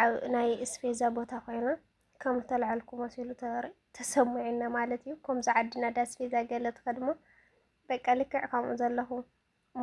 ኣብ ናይ እስፔዛ ቦታ ኮይና ከም ተላዓልኩ መሲሉ ተሰሙዒና ማለት እዩ። ከምዚ ዓድና ዳ እስፔዛ ገለ ትኸድሞ በቃ ልክዕ ከምኡ ዘለኹ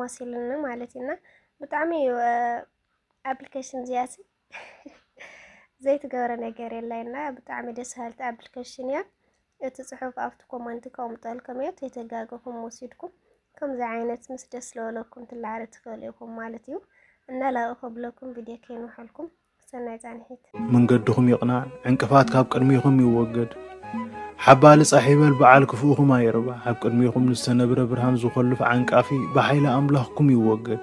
መሲሉኒ ማለት እዩና ብጣዕሚ እዩ ኣፕሊኬሽን እዚኣሲ ዘይትገብረ ነገር የላይና ብጣዕሚ ደስ ሃልቲ ኣፕሊኬሽን እያ። እቲ ጽሑፍ ኣብቲ ኮመንት ከቅምጠልኩም እየ ተይተጋገኹም ወሲድኩም ከምዚ ዓይነት ምስ ደስ ለበለኩም ትላዓሉ ትክእሉ ኢኩም ማለት እዩ እና ላቅ ከብለኩም ቪድዮ ከይንውሐልኩም ሰናይ ጻንሒት። መንገድኹም ይቕናዕ ዕንቅፋት ካብ ቅድሚኹም ይወገድ ሓባሊ ጻሕ ይበል በዓል ክፍኡኹም ኣይርባ ኣብ ቅድሚኹም ንዝተነብረ ብርሃን ዝኾልፍ ዓንቃፊ ብሓይሊ ኣምላኽኩም ይወገድ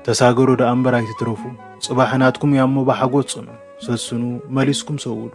ተሳገሩ ደኣ እምበር ኣይትትረፉ ጽባሕ ናትኩም እያሞ ብሓጎስ ጽኑ ሰስኑ መሊስኩም ሰውዱ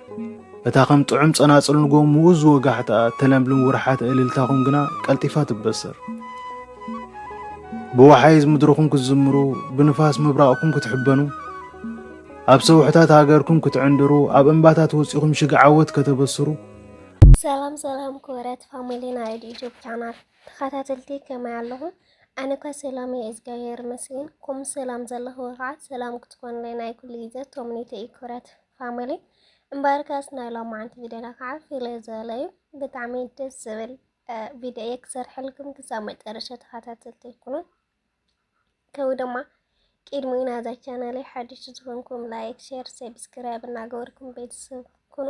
እታ ከም ጥዑም ጸናጽል ንጎም ምኡዝ ወጋሕታኣ እተለምልም ውርሓተ እልልታኹም ግና ቀልጢፋ ትበሰር። ብወሓይዝ ምድርኹም ክትዝምሩ፣ ብንፋስ ምብራቕኩም ክትሕበኑ፣ ኣብ ሰውሕታት ሃገርኩም ክትዕንድሩ፣ ኣብ እምባታት ወጺኹም ሽግ ዓወት ከተበስሩ ሰላም ሰላም ክብረት ፋሚሊ ናይ ዩቲዩብ ቻናል ተኸታተልቲ ከመይ ኣለኹም? ኣነ እኳ ሰላም እየ እግዚኣብሔር ይመስገን። ከምኡ ሰላም ዘለኹ ከዓ ሰላም ክትኮኑለይ ናይ ኩሉ ግዜ ተምኒተይ እዩ ክብረት ፋሚሊ እምበርከስ ናይ ሎማዓንቲ ቪድዮና ከዓ ፍልይ ዝበለ እዩ ብጣዕሚ ደስ ዝብል ቪድዮ እየ ክሰርሐልኩም ክሳብ መጨረሻ ተኸታተልቲ ይኩኑ ከምኡ ድማ ቅድሚኡ ናዛ ቻናለይ ሓድሽ ዝኾንኩም ላይክ፣ ሼር፣ ሰብስክራይብ እናገበርኩም ቤተሰብ ኩኑ።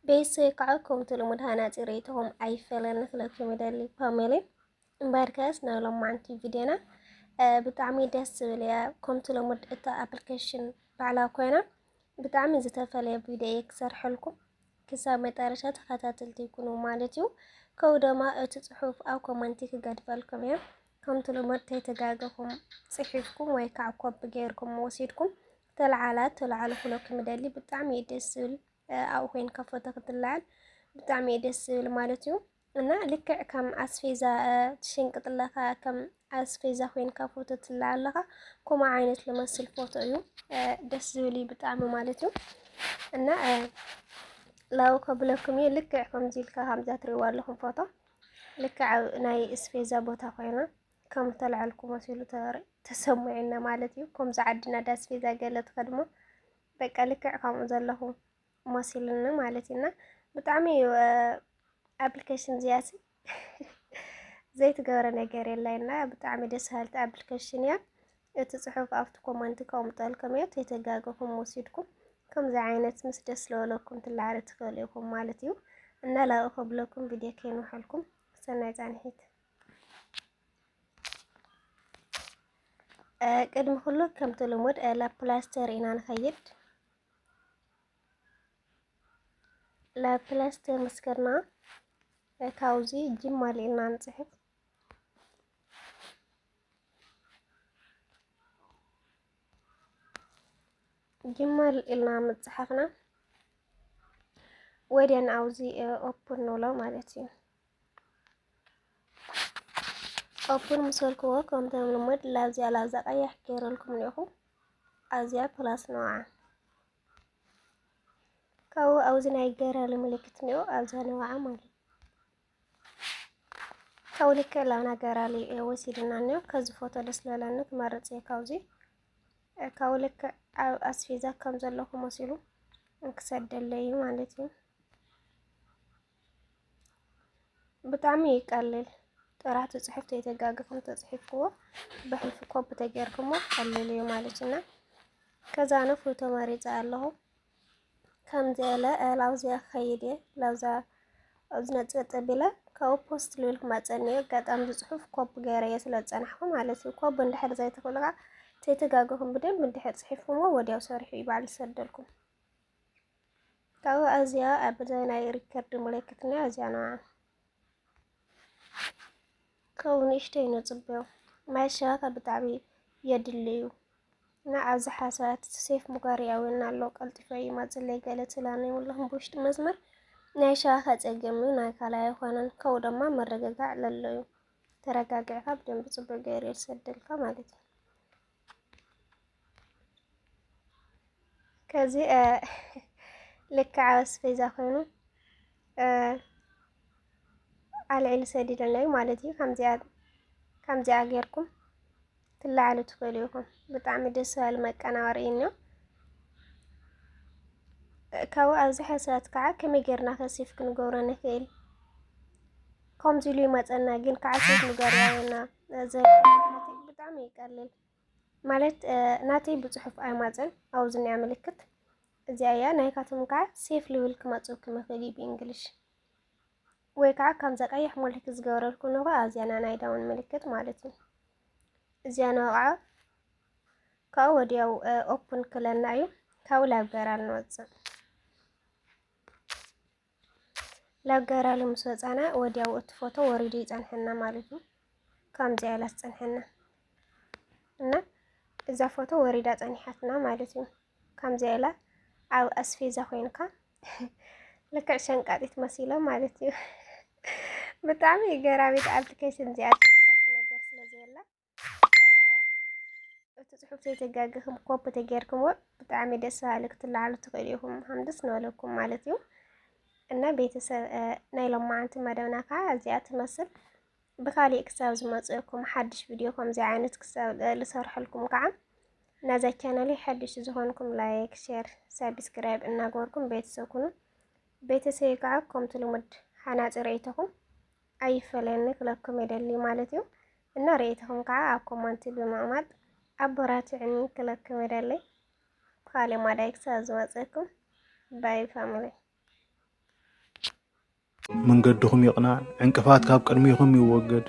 ቤተሰብ ከዓ ከምቲ ልሙድ ሃናፂ ርእይቶኹም ኣይፈለኒ ክለኩም ይደሊ ፓሜሊ እምበርከስ ናይ ሎማዓንቲ ቪድዮና ብጣዕሚ ደስ ዝብል እያ ከምቲ ሎሙድ እታ ኣፕሊኬሽን ባዕላ ኮይና ብጣዕሚ ዝተፈለየ ቪድዮ እየ ክሰርሐልኩም ክሳብ መጠረሻ ተኸታተልቲ ይኩኑ ማለት እዩ ከው ደማ እቲ ፅሑፍ ኣብ ኮመንቲ ክገድፈልኩም እየ ከምቲ ሎሙድ ተይተጋገኹም ፅሒፍኩም ወይ ከዓ ኮፒ ገይርኩም ወሲድኩም ተለዓላ ተለዓሉ ክለኩም ይደሊ ብጣዕሚ እዩ ደስ ዝብል ኣብኡ ኮይንካ ፎቶ ክትለዓል ብጣዕሚ እዩ ደስ ዝብል ማለት እዩ እና ልክዕ ከም ኣስፌዛ ትሽንቅጥለካ ከም ኣስፌዛ ኮይንካ ፎቶ ትላ ኣለካ ከምኡ ዓይነት ልመስል ፎቶ እዩ ደስ ዝብል እዩ ብጣዕሚ ማለት እዩ እና ላው ከብለኩም እዩ ልክዕ ከምዚ ኢልካ ከምዛ ትሪእዋ ኣለኹም ፎቶ ልክዕ ኣብ ናይ እስፌዛ ቦታ ኮይና ከም ተልዐልኩ መሲሉ ተሰሙዒና ማለት እዩ ከምዚ ዓድና ዳስፌዛ ገለ ትኸድሞ በቃ ልክዕ ከምኡ ዘለኹም መሲሉኒ ማለት እዩ እና ብጣዕሚ እዩ ኣፕሊኬሽን እዚኣሲ ዘይትገብረ ነገር የላይ እና ብጣዕሚ ደስ ሃልቲ ኣፕሊኬሽን እያ እቲ ፅሑፍ ኣብቲ ኮመንት ከቕምጠልኩም እዮ ተተጋገኹም ወሲድኩም ከምዚ ዓይነት ምስ ደስ ለበለኩም ትላዕሪ ትኽእሉ ኢኹም ማለት እዩ እና ላቅ ከብለኩም ቪድዮ ከይንውሐልኩም ሰናይ ፃንሒት ቅድሚ ኩሉ ከምቲ ልሙድ ላፕላስተር ኢና ንኸይድ ለፕለስ ተመስገና ታውዚ ጅማ ሌና ንጽሕፍ ጅማ ኢልና ምጽሓፍና ወዲያን ኣውዚ ኦፕን ንብሎ ማለት እዩ። ኦፕን ምስ በልክዎ ከምቲ ልሙድ ላዚያ ላዛ ቀያሕ ገይረልኩም እኒኦኹ ኣዚያ ፕላስ ነውዓ ካብኡ ኣብዚ ናይ ገረሊ ምልክት እኒኦ ኣዚያ ነውዓ ማለት ካብኡ ልክ ላብና ገራሊ ወሲድና እኒኦ ከዚ ፎቶ ደስ ለለኒ ክመርፅ እየ ካብዚ ካብኡ ልክ ኣብ ኣስፌዛ ከም ዘለኹ መሲሉ ክሰደለይ ማለት እዩ ብጣዕሚ እዩ ቀሊል ጥራሕ ትፅሑፍ ተይተጋግኹም ተፅሒፍክዎ ብሕልፊ ኮፒ ተገይርክሞ ቀሊል እዩ ማለት እና ከዛ ኣነ ፎቶ መሪፀ ኣለኹ ከምዚ እለ ላብዚያ ክኸይድ እየ ላብዛ ዝነፅገ ጠቢለ ካብኡ ፖስት ልብል ክመፀኒ እዩ ኣጋጣሚ ዝፅሑፍ ኮፒ ገይረ እየ ስለ ዝፀናሕኩ ማለት እዩ ኮፒ እንድሕር ዘይትኽእሉ ከዓ ተይተጋግኹም ብደንብ እንድሕር ፅሒፍክሞ ወዲያው ሰሪሑ እዩ ባዕሉ ዝሰደልኩም ካብኡ ኣዝያ ኣብ ዘመናዊ ሪከርድ ምልክትና ኣዝያንዋ ከው ንእሽተይ ንጽብዮ ማይ ሸዋታ ብጣዕሚ የድልዩ እና ኣብዝሓ ሰባት ሴፍ ሙጋሪ ኣውና ኣሎ ቀልጢፈ ይመጽለይ ገለ ትላነ ይብለኹም ብውሽጢ መስመር ናይ ሸዋታ ጸገም እዩ ናይ ካላ ኣይኮነን ከው ድማ መረጋጋዕ ለለዩ ተረጋጊዕካ ብደንብ ጽቡቅ ገይሩ ይሰደልካ ማለት እዩ ከዚ ልክዕ ኣስቤዛ ኮይኑ ኣልዒሉ ሰዲደና እዩ ማለት እዩ። ከምዚኣ ጌርኩም ትለዓሉ ትኽእሉ ኢኹም። ብጣዕሚ ደስ በሃሊ መቀናበሪ እዩ እኒኦ። ካብኡ ኣብዚ ሕሰት ከዓ ከመይ ጌርና ከሲፍ ክንገብሮ ንኽእል ከምዚ ኢሉ ይመፀና ግን ከዓ ሴት ንገርያየና ዘናተይ ብጣዕሚ ይቀልል ማለት ናተይ ብፅሑፍ ኣይማፀን ኣውዝኒያ ምልክት እዚኣ እያ ናይካትም ከዓ ሴፍ ልብል ክመፅው ክምኽእል እዩ ብእንግሊሽ ወይ ከዓ ከምዛ ቀይሕ ምልክት ዝገበረልኩ ንኸ ኣዚያና ናይ ዳውን ምልክት ማለት እዩ እዚያና ከዓ ካብኡ ወዲያው ኦፕን ክለና እዩ ካብኡ ላብገራ ንወፅእ ላብ ጋራሊ ምስ ወጻና ወዲያው እቲ ፎቶ ወሪዱ ይጸንሐና ማለት እዩ። ከምዚኣ ኢላ ትጸንሐና እና እዛ ፎቶ ወሪዳ ጸኒሓትና ማለት እዩ። ከምዚኣ ኢላ ኣብ ኣስፌዛ ኮይንካ ልክዕ ሸንቃጢት መሲሎ ማለት እዩ። ብጣዕሚ ገራሚት ኣርትከይ ስንዚኣ ዝሰርሐ ነገር ስለዘየላ እቲ ፅሑፍ ዘይተጋገኹም ኮፒ ተጌርክምዎ ብጣዕሚ ደስ በሃሊ ክትለዓሉ ትኽእሉ ኢኹም ሃምድስ ንበለኩም ማለት እዩ እና ቤተሰብ ናይ ሎማዓንቲ መደብና ከዓ እዚኣ ትመስል ብካሊእ ክሳብ ዝመፅእኩም ሓድሽ ቪድዮ ከምዚ ዓይነት ክሳብ ዝሰርሐልኩም ከዓ ናዛ ቻናለይ ሓድሽ ዝኾንኩም ላይክ ሼር ሳብስክራይብ እናገበርኩም ቤተሰብ ኩኑ ቤተሰብ ከዓ ከምቲ ልሙድ ሓናፂ ርእይቶኹም ኣይፈለየኒ ክለኩም የደሊ ማለት እዩ እና ርእይትኹም ከዓ ኣብ ኮመንቲ ብምቕማጥ ኣቦራትዕኒ ክለኩም የደሊ ብካሌ ማዳይ ክሳብ ዝመፀኩም ባይ ፋሚሊ መንገድኹም ይቕናዕ ዕንቅፋት ካብ ቅድሚኹም ይወገድ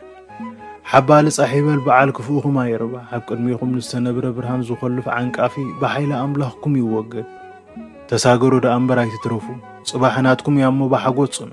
ሓባሊ ጻሕ ይበል በዓል ክፍኡኹም ኣይርባ ኣብ ቅድሚኹም ንዝተነብረ ብርሃን ዝኾልፍ ዓንቃፊ ብሓይሊ ኣምላኽኩም ይወገድ ተሳገሩ ደኣ እምበር ኣይትትረፉ ጽባሕ ናትኩም እያ እሞ ብሓጎት ጽኑ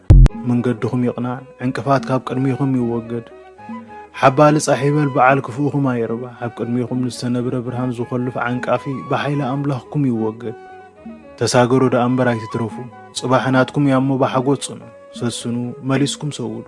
መንገድኹም ይቕናዕ፣ ዕንቅፋት ካብ ቅድሚኹም ይወገድ። ሓባሊ ጻሕ ይበል በዓል ክፉእኹም ኣይርባሕ፣ ኣብ ቅድሚኹም ንዝተነብረ ብርሃን ዝኾልፍ ዓንቃፊ ብሓይሊ ኣምላኽኩም ይወገድ። ተሳገሩ ደኣ እምበር ኣይትትረፉ፣ ጽባሕ ናትኩም እያሞ ብሓጎስ ጽንዑ፣ ሰስኑ፣ መሊስኩም ሰውዱ።